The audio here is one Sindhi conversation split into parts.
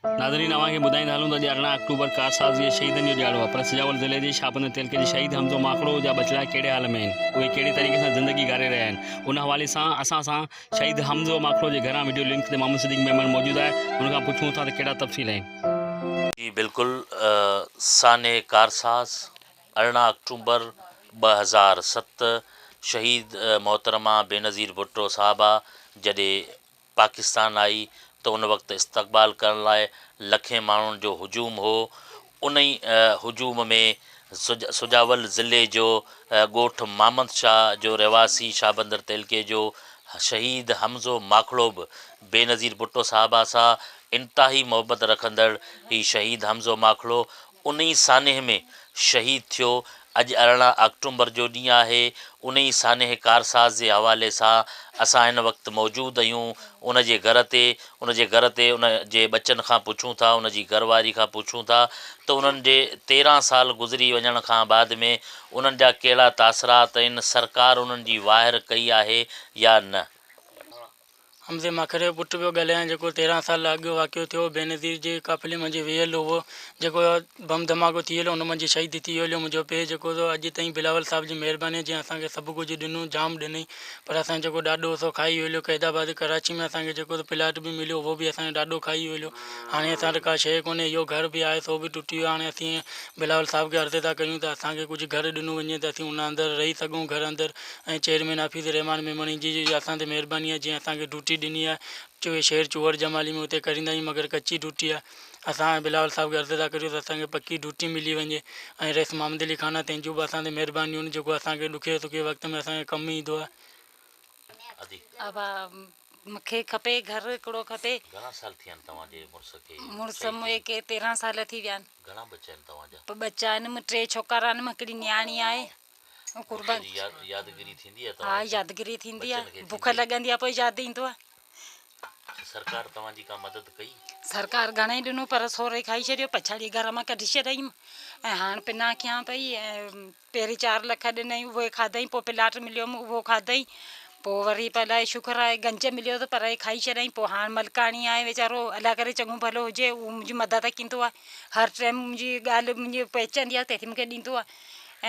ناظرين اوهان کي ٻڌائيندا هلون ته اڄ ارڙهن آڪٽوبر ڪارساز جي شهيدن جو ڏيهاڙو آهي پر سجاول ضلعي جي شاهپنڌ تعلقي جي شهيد حمزو ماڪڙو جا ٻچڙا ڪهڙي حال ۾ آهن اهي ڪهڙي طريقي سان زندگي گهاري رهيا آهن ان حوالي سان اسان سان شهيد حمزو ماڪڙو جي گهران وڊيو لنڪ تي محمد صديق ميمڻ موجود آهي هن کان پڇون ٿا ته ڪهڙا تفصيل آهن. جي بلڪل سانحي ڪارساز ارڙهن آڪٽوبر ٻه هزار ست شهيد محترمه بينظير ڀٽو صاحبه جڏي پاڪستان آئي ته ان وقت استقبال ڪرڻ لاء لکين ماڻهن جو هجوم هو، انهي هجوم ۾ سجاول ضلعي جو ڳوٺ مامند شاهه جو رهواسي شاهبندر تعلقي جو شهيد حمزو ماکڙو به بينظير ڀٽو صاحبه سان انتهائي محبت رکندڙ هي شهيد حمزو ماکڙو انهي سانحي ۾ شهيد ٿيو، اڄ ارڙهن آڪٽومبر جو ڏينهن آهي، انهي سانحي ڪارساز جي حوالي سان اسان هن وقت موجود اهيون، ان جي گهر تي، ان جي گهر تي ان جي ٻچن کان پڇون ٿا، ان جي گهر واري کان پڇون ٿا ته انهن جي تيرهن سال گذري وڃڻ کان بعد ۾ انهن جا ڪهڙا تاثرات ۽ سرڪار انهن جي واهر ڪئي آهي يا نه. حمزي ماکر جو پٽ پيو ڳالهائي جيڪو تيرهن سال اڳ واقعو ٿيو بينظير جي قافلي منجهه ويهيل هو جيڪو بم ڌماڪو ٿيل ان منجهه شهيد ٿي ويو منهنجو پي جيڪو سو اڄ تائين بلاول صاحب جي مهرباني جنهن اسان کي سڀ ڪجهه ڏنو جام ڏنائين پر اسان جو جيڪو ڏاڏو هو سو کائي ويلو قيد آباد ڪراچي ۾ اسان کي جيڪو سو پلاٽ به مليو اهو به اسان جو ڏاڏو کائي ويلو هاڻي اسان وٽ ڪا شيء ڪونهي اهو گهر به آهي سو به ٽٽي ويو هاڻي اسين بلاول صاحب کي عرض ٿا ڪريون ته اسان کي ڪجهه گهر ڏنو وڃي ته اسين ان اندر رهي سگهون گهر اندر ۽ چيئرمين حفيظ الرحمان ميمڻي جي جي اسان تي مهرباني آهي جنهن اسان کي ڊيوٽي ڏني آهي چوي شهر چوهڙ جمالي ۾ اتي ڪريندا آهيون مگر ڪچي ڊيوٽي آهي اسان ۽ بلاول صاحب کي عرض ٿا ڪريون ته اسان کي پڪي ڊيوٽي ملي وڃي ۽ رئيس محمد علي خان آهي تنهن جون به اسان تي مهربانيون آهن جيڪو اسان کي ڏکي سکي وقت ۾ اسان کي ڪم ايندو آهي ابا مونکي کپي گهر هڪڙو کپي گهڻا سال ٿيا آهن توهان جي مڙس کي مڙس مونکي کي تيرهن سال ٿي ويا آهن گهڻا ٻچا آهن توهان جا ٻچا آهن ٽي ڇوڪرا آهن هڪڙي نياڻي آهي قربان يادگيري ٿيندي آهي ها يادگيري ٿيندي آهي بک لڳندي آهي پوء ياد ايندو آهي سرڪار توهان جي ڪا مدد ڪئي سرڪار گهڻي ڏنو پر سوري کائي ڇڏيو پڇاڙي گهر مان ڪڍي ڇڏيم ۽ هاڻ پنا کيان پئي پهرين 4 لک ڏنئي اهي کاڌئي پوء پلاٽ مليو اهو کاڌئي پوء وري پلاء شڪر آهي گنج مليو ته پر کائي ڇڏيائين پوء هاڻ ملڪاڻي آهي ويچارو الا ڪري چڱو ڀلو هجي اهو منهنجي مدد ڪندو آهي هر ٽائيم منهنجي ڳالهه منهنجي پهچندي آهي تنهنکي مونکي ڏيندو آهي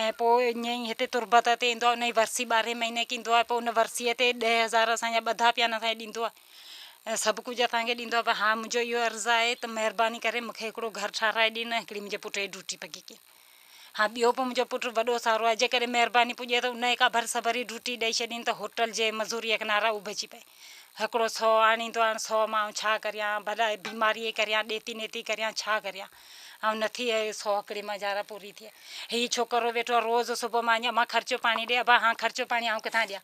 ۽ پوء ائين ئي هتي تربت تي ايندو آهي ان جي ورسي ٻارهين مهيني کي ايندو آهي پوء ان ورسيء تي ڏهه هزار اسان جا ٻڌا پيانا اسان کي ڏيندو آهي سڀ ڪجهه اسان کي ڏيندو آهي پر هاڻ منهنجو اهو عرض آهي ته مهرباني ڪري مون کي هڪڙو گهر ٺاهرائي ڏي نه هڪڙي منهنجي پٽ جي ڊوٽي پڳي ڪين هاڻ ٻيو به منهنجو پٽ وڏو سارو آهي جيڪڏهن مهرباني پڄي ته ان کي ڪا ڀرس ڀري ڊوٽي ڏئي ڇڏين ته هوٽل جي مزوري کي نارا اهو به اچي پئي هڪڙو سؤ آڻيندو آهي هاڻ سؤ مان آئون ڇا ڪريان ڀلا بيماريء جي ڪريان ڏيتي نيتي ڪريان ڇا ڪريان آئون نه ٿي اهي سو هڪڙي مان جارا پوري ٿئي هي ڇوڪرو ويٺو آهي روز صبح مان اما خرچو پاڻي ڏي ابا هان خرچو پاڻي آئون ڪٿان ڏيان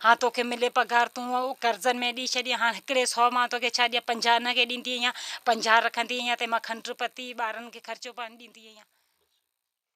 هان توکي ملي پگهار تون اهو قرضن ۾ ڏي ڇڏي هان هڪڙي سو مان توکي ڇا ڏيان پنجاهه هن کي ڏيندي اهي پنجاهه رکندي اهي تنهن مان کنڊ پتي ٻارن کي خرچو پاڻي ڏيندي اهي